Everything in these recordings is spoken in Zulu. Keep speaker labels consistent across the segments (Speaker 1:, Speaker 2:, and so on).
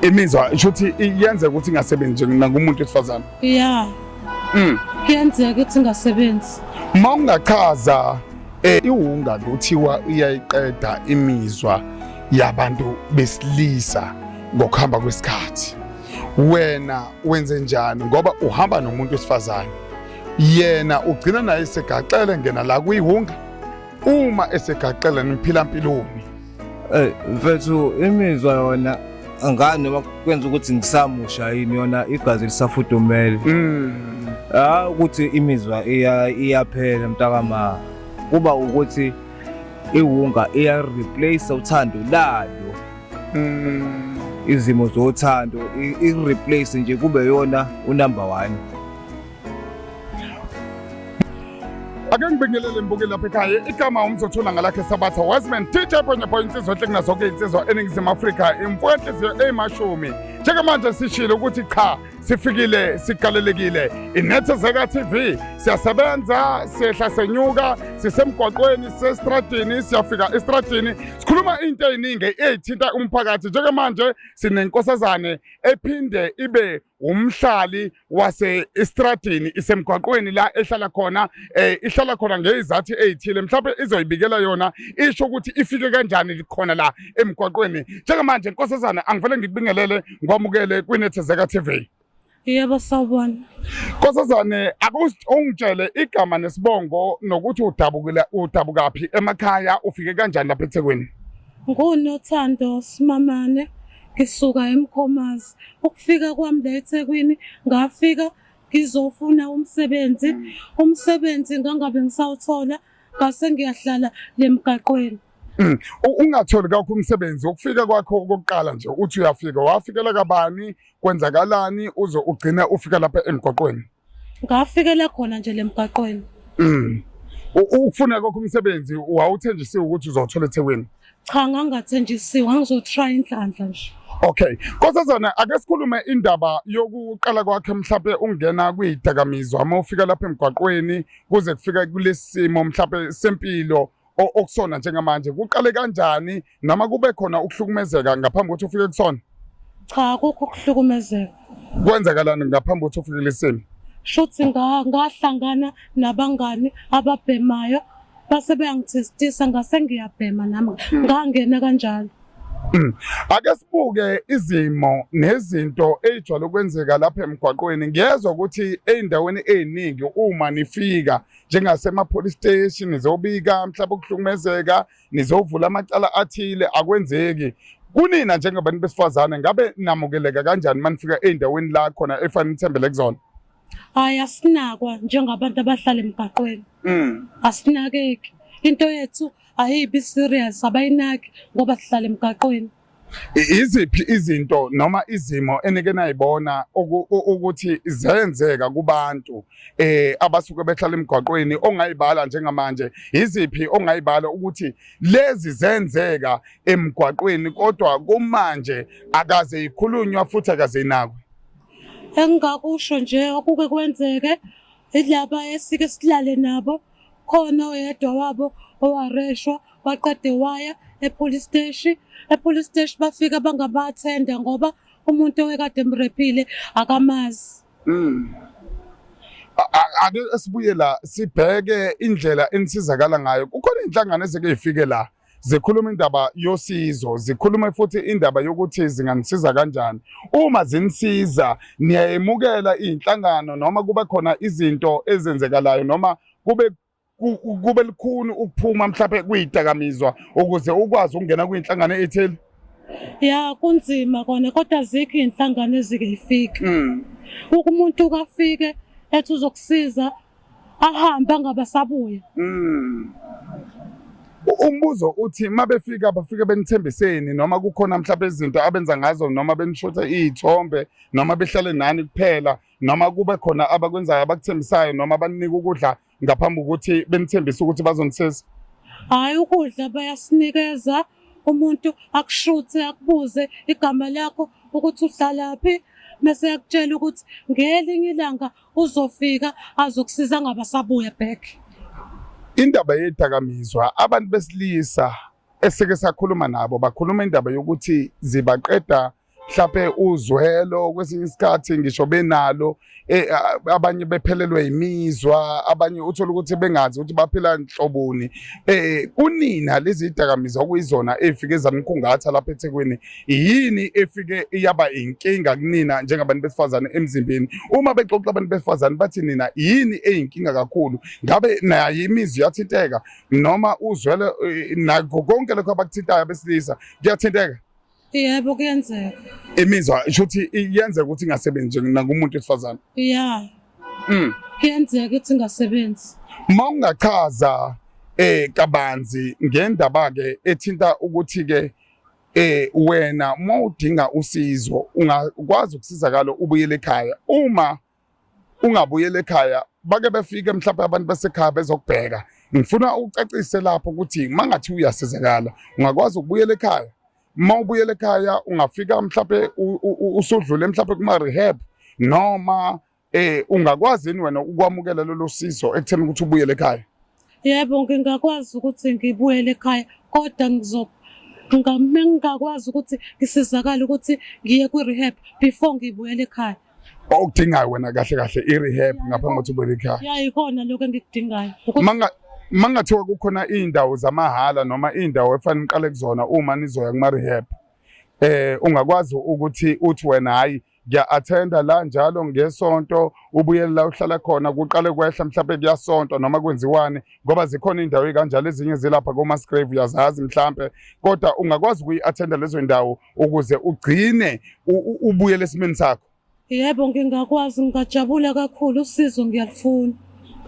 Speaker 1: imizwa shuthi yenze ukuthi ingasebenzi nje nakumuntu wesifazane yeah mm
Speaker 2: kuyenzeka ukuthi ingasebenzi uma ungachaza
Speaker 1: eh iwunga kuthiwa iyayiqeda imizwa yabantu besilisa ngokuhamba kwesikhathi wena wenze njani ngoba uhamba nomuntu wesifazane yena ugcina naye segaxele ngena la kuyiwunga uma esegaxele niphila mpilweni Hey
Speaker 3: mfethu imizwa yona angani noma kwenza ukuthi ngisamusha yini yona igazi lisafudumele. Mm. Ah ukuthi imizwa iya iyaphela mntakama. Kuba ukuthi iwunga iya replace uthando layo. Mm. Izimo zothando i replace nje kube yona unumber 1.
Speaker 1: ake ngibingelele ngibuke lapha ekhaya igama umzothola ngalakhe sabatha wiseman dj ponyapo insizwa enhle kunazoke iy'nsizwa eningizimu afrika imfuka enhliziyo eyimashumi njengamanje sishile ukuthi cha sifikile sigalelekile inethezeka tv siyasebenza sehla senyuka sisemgwaqweni sesitradini siyafika esitradini sikhuluma into ey'ningi ey'thinta umphakathi njengamanje sinenkosazane ephinde ibe umhlali wase istradini isemgwaqweni la ehlala khona eh ihlala khona ngezizathi ezithile mhlawumbe izoyibikela yona isho ukuthi ifike kanjani likhona la emgwaqweni njengamanje nkosazana angivele ngikubingelele ngwamukele kwinethezeka TV Yebo
Speaker 2: sawubona. Nkosazane
Speaker 1: akungitshele igama nesibongo nokuthi udabukile udabukaphi emakhaya ufike kanjani lapha eThekwini? NguNothando
Speaker 2: Simamane, ngisuka eMkhomazi. Ukufika kwami la eThekwini ngafika ngizofuna umsebenzi. Umsebenzi ngangabe ngisawuthola ngase ngiyahlala le mgaqweni. Mm.
Speaker 1: Ungatholi kakho umsebenzi ukufika kwakho okokuqala nje uthi uyafika wafikela kabani kwenzakalani uze ugcine ufika lapha emgwaqweni. Ngafikela
Speaker 2: khona nje lemgaqweni. Mm.
Speaker 1: Ukufuna kokho umsebenzi wawuthenjisiwe ukuthi uzothola eThekwini. Cha
Speaker 2: ngangathenjisiwe, ngizotry inhlanhla nje. Okay. Nkosazana
Speaker 1: ake sikhulume indaba yokuqala kwakhe mhlawumbe ungena kwidakamizwa uma ufika lapha emgwaqweni kuze kufika kulesimo mhlawumbe sempilo okusona njengamanje kuqale kanjani noma kube khona ukuhlukumezeka ngaphambi kokuthi ufike kusona cha kukho
Speaker 2: ukuhlukumezeka kwenzakalani
Speaker 1: ngaphambi kokuthi ufike lesimo shuthi
Speaker 2: ngahlangana nabangani ababhemayo base beyangithestisa ngase ngiyabhema nami hmm. ngangena kanjalo hmm.
Speaker 1: Ake sibuke izimo nezinto ezijwayele ukwenzeka lapha emgwaqweni. Ngiyezwa ukuthi ezindaweni eziningi uma nifika njengasema-police station nizobika mhlawumbe ukuhlukumezeka nizovula amacala athile akwenzeki kunina njengabantu besifazane ngabe namukeleka kanjani uma nifika ey'ndaweni la khona efanele nithembele kuzona hhayi
Speaker 2: asinakwa njengabantu abahlala emgaqweni mm. asinakeki into yethu ayibi serious abayinaki ngoba sihlala emgaqweni Iziphi
Speaker 1: izinto noma izimo enike nayibona ukuthi zenzeka kubantu eh abasuke behlala emgwaqweni ongayibala njengamanje iziphi ongayibala ukuthi lezi zenzeka emgwaqweni kodwa kumanje akaze ikhulunywa futhi akaze inakwe Engakusho
Speaker 2: nje okuke kwenzeke ilaba esike silale nabo khona oyedwa wabo owareshwa waqede waya epolice steshi epolice steshi bafika bangabathenda ngoba umuntu owekade emrephile akamazi
Speaker 1: mm. ake sibuye la sibheke indlela enisizakala ngayo kukhona inhlangano ezeke ifike la zikhuluma indaba yosizo zikhulume futhi indaba yokuthi zinganisiza kanjani uma zinisiza niyayemukela iy'nhlangano noma kube khona izinto ezenzekalayo noma kube kube likhuni ukuphuma mhlawumbe kuyidakamizwa ukuze ukwazi ukungena kwinhlangano ethile ya
Speaker 2: kunzima kona kodwa azikho iy'nhlangano ezike yifike mm. umuntu kafike ethi uzokusiza ahambe angabasabuya mm.
Speaker 1: umbuzo uthi uma befika bafike benithembiseni noma kukhona mhlawumbe izinto abenza ngazo noma benishothe iy'thombe noma behlale nani kuphela noma kube khona abakwenzayo abakuthembisayo noma baninike ukudla ngaphambi kokuthi benithembise ukuthi bazonisisa hhayi
Speaker 2: ukudla bayasinikeza umuntu akushuthe akubuze igama lakho ukuthi uhlalaphi mese yakutshela ukuthi ngelinye ilanga uzofika azokusiza ngabe asabuya back
Speaker 1: indaba yedakamizwa abantu besilisa esike sakhuluma nabo bakhuluma indaba yokuthi zibaqeda mhlape uzwelo kwesinye isikhathi ngisho benalo e, abanye bephelelwe yimizwa abanye uthola ukuthi bengazi ukuthi baphila nhloboni eh kunina lezi dakamizwa okuyizona efike zamkhungatha lapha eThekwini yini efike iyaba inkinga kunina njengabantu besifazane emzimbeni uma bexoxa abantu besifazane bathi nina yini eyinkinga kakhulu ngabe naye imizwa yathinteka noma uzwele eh, nakho konke lokho abakuthintayo abesilisa kuyathinteka yebo
Speaker 2: kuyenzeka imizwa shuthi
Speaker 1: iyenzeka ukuthi ingasebenzi nje nakumuntu wesifazane ya
Speaker 2: mm. kuyenzeka ukuthi ingasebenzi uma ungachaza
Speaker 1: eh kabanzi ngendaba ke ethinta ukuthi ke eh wena uma udinga usizo ungakwazi ukusizakala ubuyele ekhaya uma ungabuyele ekhaya bake befike mhlawumbe abantu basekhaya bezokubheka ngifuna ukucacise lapho ukuthi mangathi uyasizakala ungakwazi ukubuyela ekhaya uma ubuyela ekhaya ungafika mhlawumbe usudlule mhlawumbe kuma rehab noma Eh ungakwazi yini wena ukwamukela lolu sizo ekutheni ukuthi ubuyele ekhaya? Yebo
Speaker 2: ngingakwazi ukuthi ngibuyele ekhaya kodwa ngizo ngingakwazi ukuthi ngisizakale ukuthi ngiye kwi-rehab before ngibuyele ekhaya. Okudingayo wena
Speaker 1: kahle kahle i-rehab ngaphambi kokuthi ubuyele ekhaya. Ya ikona lokho
Speaker 2: engikudingayo. Manga
Speaker 1: mangathiwa kukhona izindawo zamahhala noma izindawo efanele uqale kuzona uma nizoya kuma-rehab eh ungakwazi ukuthi uthi wena hayi ngiya-athenda la njalo ngesonto ubuyele la uhlala khona kuqale kwehla mhlawumpe kuyasontwa noma kwenziwani ngoba zikhona iy'ndawo ey'kanjalo ezinye zilapha komasgrave uyazazi mhlawumpe kodwa ungakwazi ukuyi-athenda lezo ndawo ukuze ugcine ubuyele esimeni sakho yebo
Speaker 2: ngingakwazi ngingajabula kakhulu usizo ngiyalufuna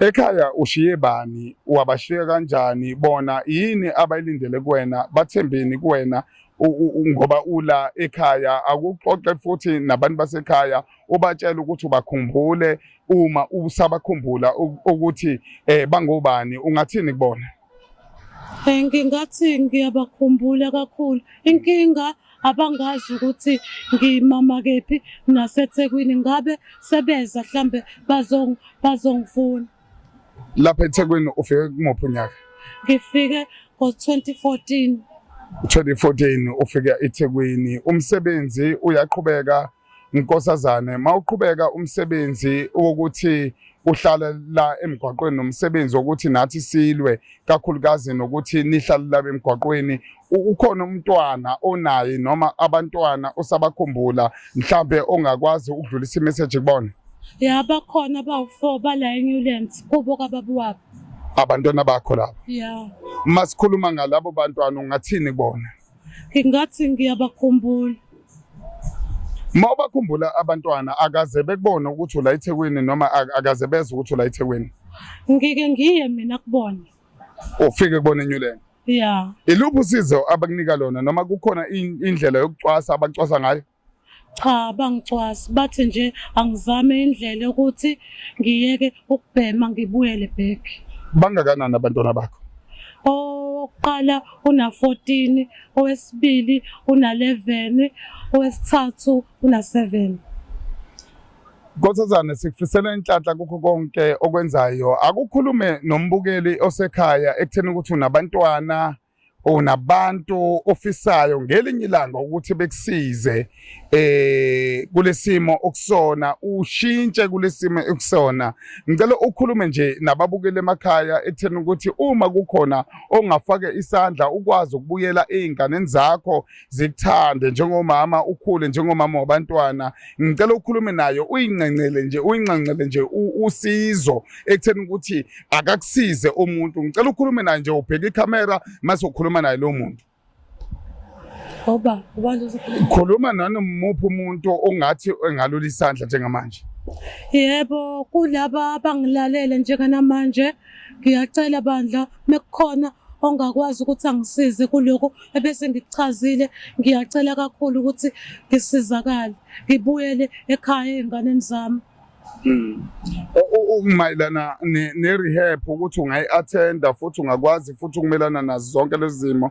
Speaker 2: Ekhaya
Speaker 1: ushiye bani, wabashiya kanjani, bona yini abayilindele kuwena, bathembeni kuwena ngoba ula ekhaya akuxoxe futhi nabantu basekhaya ubatshela ukuthi ubakhumbule uma usabakhumbula ukuthi eh bangobani ungathini kubona eh, ngingathi
Speaker 2: ngiyabakhumbula kakhulu inkinga abangazi ukuthi ngimama kephi nasethekwini ngabe sebeza mhlambe bazongifuna
Speaker 1: Lapha eThekwini ufike kumuphi unyaka? Ngifike
Speaker 2: ngo-2014. 2014
Speaker 1: ufika eThekwini umsebenzi uyaqhubeka nkosazane mawuqhubeka umsebenzi wokuthi uhlala la emgwaqweni nomsebenzi wokuthi nathi silwe kakhulukazi nokuthi nihlale la emgwaqweni ukhona umntwana onaye noma abantwana osabakhumbula mhlambe ongakwazi ukudlulisa imessage kubona ya bakhona
Speaker 2: abawu-four bala eNewlands kubo kababa wabo abantwana bakho
Speaker 1: labo ya uma
Speaker 2: sikhuluma
Speaker 1: ngalabo bantwana ungathini kubona ngingathi
Speaker 2: ngiyabakhumbula uma
Speaker 1: ubakhumbula abantwana akaze bekubone ukuthi ula ethekwini noma akaze bezwe ukuthi ula ethekwini ngike ngiye
Speaker 2: mina kubona ufike
Speaker 1: kubona enyuleni yeah iluphi
Speaker 2: usizo
Speaker 1: abakunika lona noma kukhona indlela yokucwasa abacwasa ngayo cha
Speaker 2: bangicwasi bathi nje angizame indlela ukuthi ngiyeke ukubhema ngibuyele back bangakanani
Speaker 1: abantwana bakho owokuqala
Speaker 2: una-14 owesibili una-11 owesithathu una-7
Speaker 1: Nkosazane sikufisela inhlanhla kukho konke okwenzayo akukhulume nombukeli osekhaya ekutheni ukuthi unabantwana unabantu ofisayo ngelinye ilanga ukuthi bekusize eh kulesimo okusona ushintshe kulesimo okusona ngicela ukhulume nje nababukele emakhaya ekutheni ukuthi uma kukhona ongafake isandla ukwazi ukubuyela ezinganeni zakho zikuthande njengomama ukhule njengomama wabantwana ngicela ukhulume nayo uyincencele nje uyinxanxele nje usizo ekutheni ukuthi akakusize umuntu ngicela ukhulume naye nje ubheke ikhamera mase ukhuluma naye lo muntu Oba, ubantu uzokhuluma. Khuluma nani muphi umuntu ongathi engalula isandla njengamanje? Yebo,
Speaker 2: kulaba abangilalele njenganamanje Ngiyacela bandla mekukhona ongakwazi ukuthi angisize kuloko ebese ngikuchazile ngiyacela kakhulu ukuthi ngisizakale ngibuyele ekhaya ezinganeni zami hmm.
Speaker 1: ukumayelana ne-rehab ukuthi ungayi-athenda futhi ungakwazi futhi ukumelana nazo zonke lezi zimo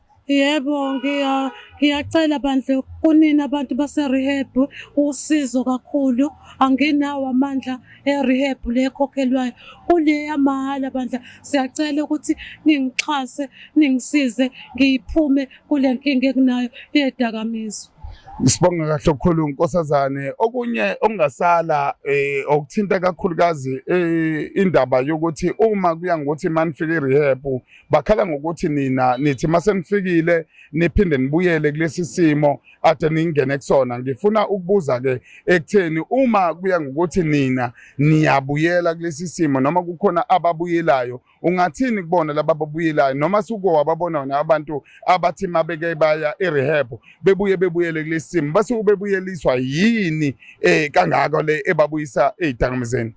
Speaker 2: Yebo, ngiya ngiyacela bandla kunina abantu base-rehab usizo kakhulu. Anginawo amandla e-rehab le ekhokhelwayo. Kule yamahhala bandla, siyacela ukuthi ningixhase, ningisize ngiphume kule nkinga enginayo yedakamizwa. Sibonga
Speaker 1: kahle okukhulu nkosazane. Okunye okungasala eh okuthinta kakhulukazi eh, indaba yokuthi uma kuya ngokuthi manifike rehab bakhala ngokuthi nina nithi masenifikile niphinde nibuyele kulesi simo ade ningene kusona ngifuna ukubuza ke ekutheni uma kuya ngokuthi nina niyabuyela kulesi simo noma kukhona ababuyelayo ungathini kubona laba babuyelayo noma suke wababona wona abantu abathi mabeke baya erehab bebuye bebuyele kulesi simo basuke bebuyeliswa yini eh kangaka le ebabuyisa ezidakamizeni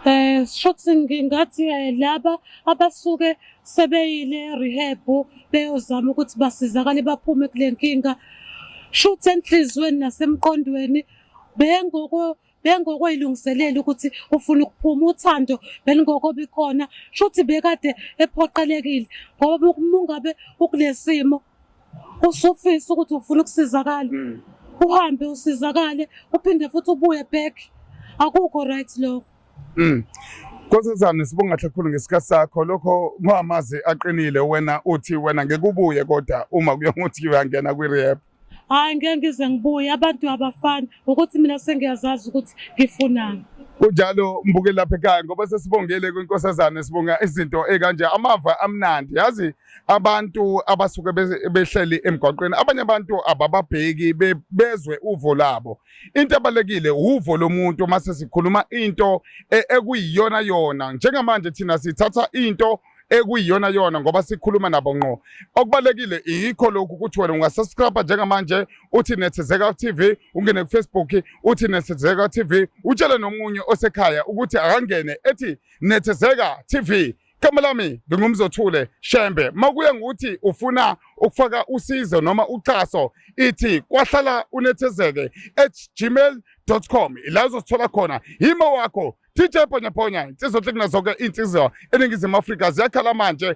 Speaker 1: Eh
Speaker 2: shothi ngingathi eh, laba abasuke sebeyile rehab beyozama ukuthi basizakale baphume kule nkinga shothi enhlizweni nasemqondweni bengoko bengokweyilungiselela ukuthi ufuna ukuphuma uthando belingoko bikhona shothi bekade ephoqelekile ngoba umungabe ukulesimo usufisa ukuthi ufuna ukusizakala mm. uhambe usizakale uphinde futhi ubuye back akukho right lokho mm.
Speaker 1: Nkosazana sibonga kakhulu ngesikhathi sakho lokho ngwamazi aqinile wena uthi wena ngeke ubuye kodwa uma kuyokuthi uyangena kwi rehab hayi ngeke ngize
Speaker 2: ngibuye abantu abafani ukuthi mina sengiyazazi ukuthi ngifunani kunjalo
Speaker 1: mbuke lapha ekhaya ngoba sesibongele kwinkosazana sibonga izinto ekanje amava amnandi yazi abantu abasuke behleli emgwaqweni abanye abantu abababheki bezwe uvo labo into abalekile uvo lomuntu uma sesikhuluma into e, ekuyiyona yona njengamanje thina sithatha into ekuyiyona yona ngoba sikhuluma nabo ngqo okubalekile yikho lokhu ukuthi wena ungasubscribe njengamanje uthi nethezeka TV ungene ku Facebook uthi nethezeka TV utshele nomunye osekhaya ukuthi akangene ethi nethezeka TV Igama lami ngingumzothule Shembe. Makuye ngokuthi ufuna ukufaka usizo noma uxhaso ithi kwahlala unethezeke @gmail.com la uzosithola khona yimo wakho DJ Ponyaponya insizwa hlekuna zonke insizwa eningizimu Afrika ziyakhala manje